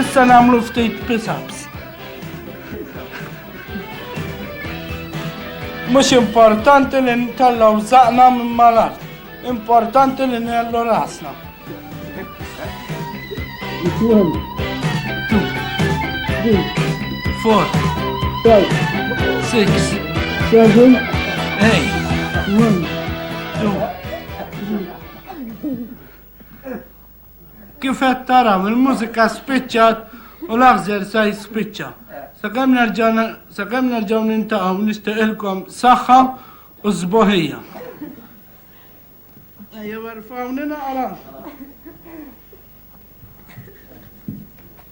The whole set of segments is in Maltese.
Issa namlu ftit pisaps. Mux importanti li ntellaw zaqna minn malar. Importanti li nellu rasna. Four. Five. Six. Seven. Eight. One. Two. Kif qed taraw il-mużika spiċċat u l-aħżer sa jispiċċa. Sakemm nerġa' sakemm nerġgħu nintaqgħu nixtieqilkom saħħa u sboħija. Ejja, warfawni naqra.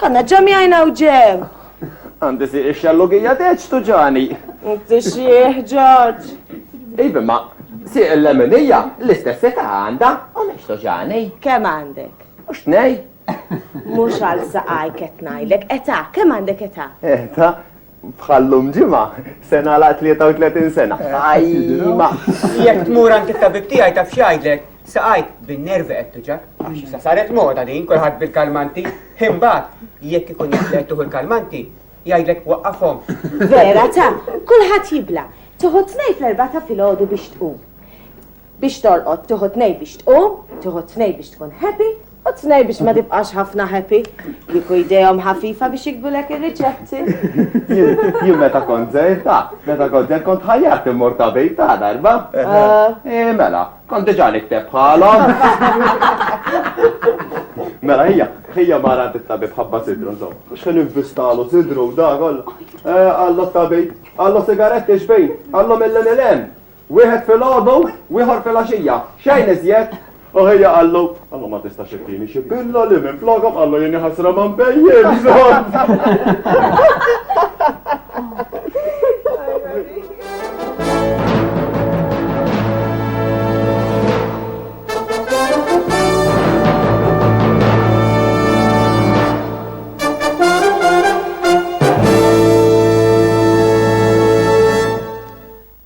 Kanna ġamjajna u ġew. Għandi si ix-xallugija teċ tuġani. Inti xieħ ġoġ. Iva ma si l-leminija l-istess età għandha u mhix tuġani. Kemm għandek? U x'tnej? Mhux għal saqaj qed ngħidlek età, kemm għandek età? Età? Bħal llum ġimgħa, se nagħlaq 33 sena. Ajma! Jekk tmur għand it-tabib tiegħi taf x'jgħidlek, saqajk bin-nervi qed tuġak. Sa saret moda din kulħadd bil-kalmanti. Imbagħad jekk ikun jaf li qed tuħu l-kalmanti, jgħidlek waqqafhom. Vera ta, kulħadd jibla. Tuħu tnejn fl-erba' ta' filgħodu biex tqum. Biex torqod tieħu tnejn biex tqum, tieħu tnejn biex tkun happy u tnejn biex ma tibqax ħafna happy. Kieku jdejhom ħafifa biex jikbulek ir-riċetti. Jien meta kont żgħir ta, meta kont żgħir kont ħajjat immur ta' bejt ta' darba. Eh mela, kont diġà nikteb bħalhom. Mela hija, hija mara għandit tabib ħabba sidru nżomm. Mhux ħin investalu sidru u da kollha. Għallu tabib, għallu sigaretti xbejn, għallu mill-MLM. Wieħed filgħodu u ieħor filgħaxija, xejn iżjed. U ħija qallu, Alla ma tistax ittini xi pilloli minflokhom, qallu jien ħasra ma nbejjimx.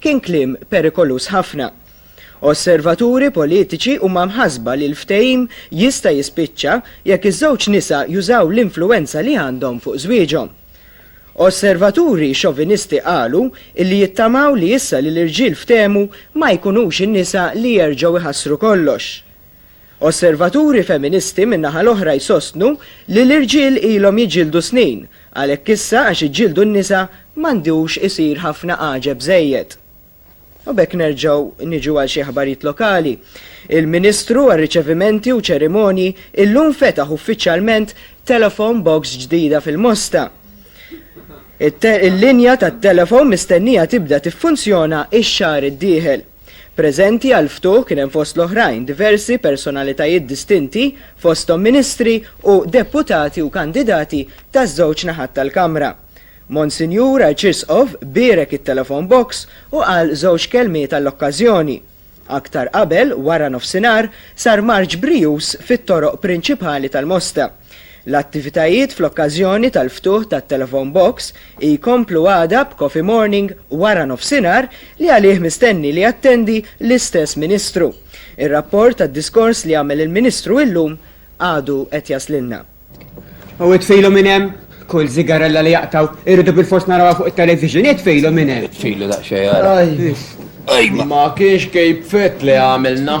Kien kliem perikoluż ħafna. Osservaturi politiċi huma mħassba li l-ftehim jista' jispiċċa jekk iż-żewġ nisa jużaw l-influwenza li għandhom fuq żwieġhom. Osservaturi xovinisti qalu illi jittamaw li issa li l-irġiel ftehmu ma jkunux in-nisa li jerġgħu jħassru kollox. Osservaturi feministi min-naħa l-oħra jsostnu li l-irġiel ilhom jiġġieldu snin, għalhekk issa għax iġġieldu n-nisa m'għandux isir ħafna għaġeb żejjed. U b'hekk nerġgħu niġu għal xi aħbarijiet lokali. Il-Ministru għar-Riċevimenti u Ċerimonji illum fetaħ uffiċjalment telephone box ġdida fil-Mosta. Il-linja tat-telefon mistennija tibda tiffunzjona x-xahar id-dieħel. Preżenti għall-ftuħ kien hemm fost l-oħrajn diversi personalitajiet distinti fosthom ministri u deputati u kandidati taż-żewġ naħat tal-Kamra. Monsinjur Arċisqof bierek it-telephone box u qal żewġ kelmiet għall-okkażjoni. Aktar qabel, wara nofsinhar, sar marċ brijuż fit-toroq prinċipali tal-Mosta. L-attivitajiet fl-okkażjoni tal-ftuħ tat-Telephone Box jkomplu għada b'Coffee Morning wara nofsinhar li għalih mistenni li jattendi l-istess Ministru. Ir-rapport tad-diskors li għamel il-Ministru illum għadu qed jaslilna. U itfilu minn hemm? Kull sigarella li jaqtgħu irridu bilfors narawha fuq it-television, itfilu minn hemm! Itfilu daqsxejn ara. Ejma! Ma kienx Cape Fett li għamilna.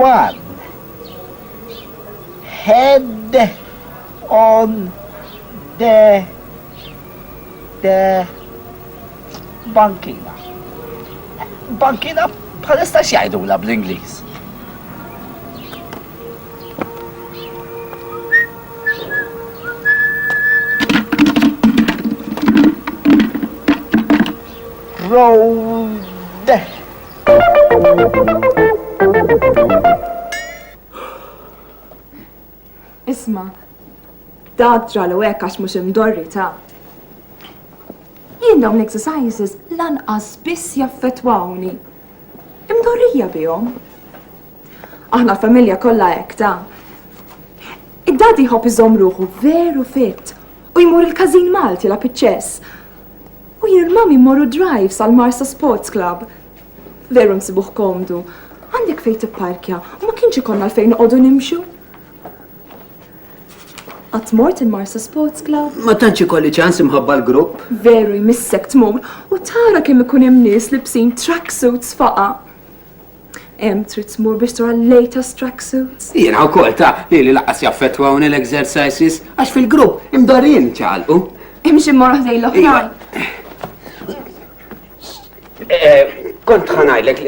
One head on the the bankina. Bankina bħalista x'jgħidula bl-Ingliż? Isma', dak ġralu hekk għax mhux imdorri ta'. Jien dawn l-exercises lanqas biss jaffettwawni. Imdorrija bihom. Aħna l-familja kollha hekk ta. Id-dadi jħobb iżomm ruħu veru fit u jmur il-każin Malti la piċċess. U jien mami mmorru drive sal-Marsa Sports Club. Veru nsibuh komdu. Għandek fejn tipparkja u ma kienx ikollna l-fejn noqogħdu nimxu. Qatt mort il-Marsa Sports Club? Ma tantx ikolli ċans imħabba l-grupp. Veru jmissek tmur u tara kemm ikun hemm nies libsin tracksuits faqa. Em, trid tmur biex tura l-latest tracksuits. Jiena wkoll ta' li li laqas jaffettwawni l-exercises għax fil-grupp imdorrin ċalqu. Imxi mmor ħdej l-oħrajn. Eh, kont ħanajlek,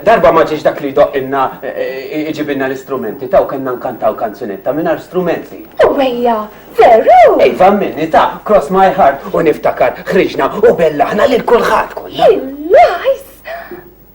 darba ma ġiex dak li doqqinna eh, iġibinna l-istrumenti, taw kanna nkantaw kanzunetta minnar strumenti. U għeja, veru! Ej, famminni ta' cross my heart u niftakar ħriġna u bellaħna lil kulħadd kollha.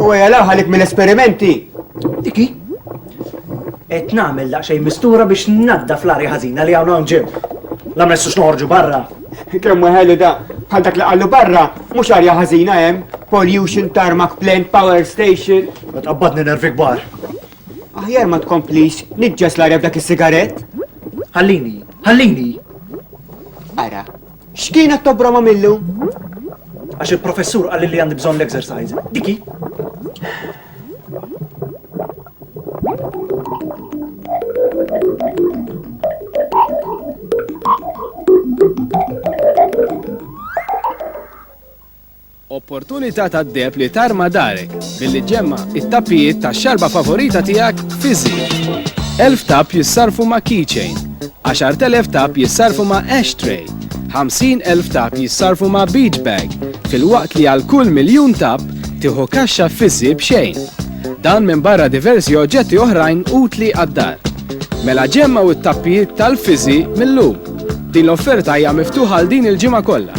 U għajja laħalik mill-esperimenti. Diki? Et namel daqxej mistura biex nadda fl-arja ħazina li għawna nġib. La messu xnorġu barra. Kemm ħeli da, bħal dak li għallu barra, mux arja ħazina jem, pollution, tarmac plant, power station. Għabbadni nervi gbar. Aħjar ma tkomplix niġġes l-arja b'dak is-sigarett. Ħallini, ħallini! Ara, x'kienet tobroma millu? Għax il-professur qal li għandi bżonn l-exercise. Diki. Opportunità tad-deheb li tarma darek billi ġġemma' t-tappijiet tax-xarba favorita tiegħek fiż-żied. Elf tapp jissarrfu ma' Keychain, 10,000 tapp jissarrfu ma' Ashtray, 50,000 tapp jissarrfu ma' Beachbag, filwaqt li għal kull miljun tapp tieħu kaxxa fiż-żied b'xejn. Dan minbarra diversi oġġetti oħrajn utli għad-dar. Mela ġemmgħu t-tappijiet tal-fiżi' mil-lum! Din l-offerta hija miftuħa għal din il-ġimgħa kollha.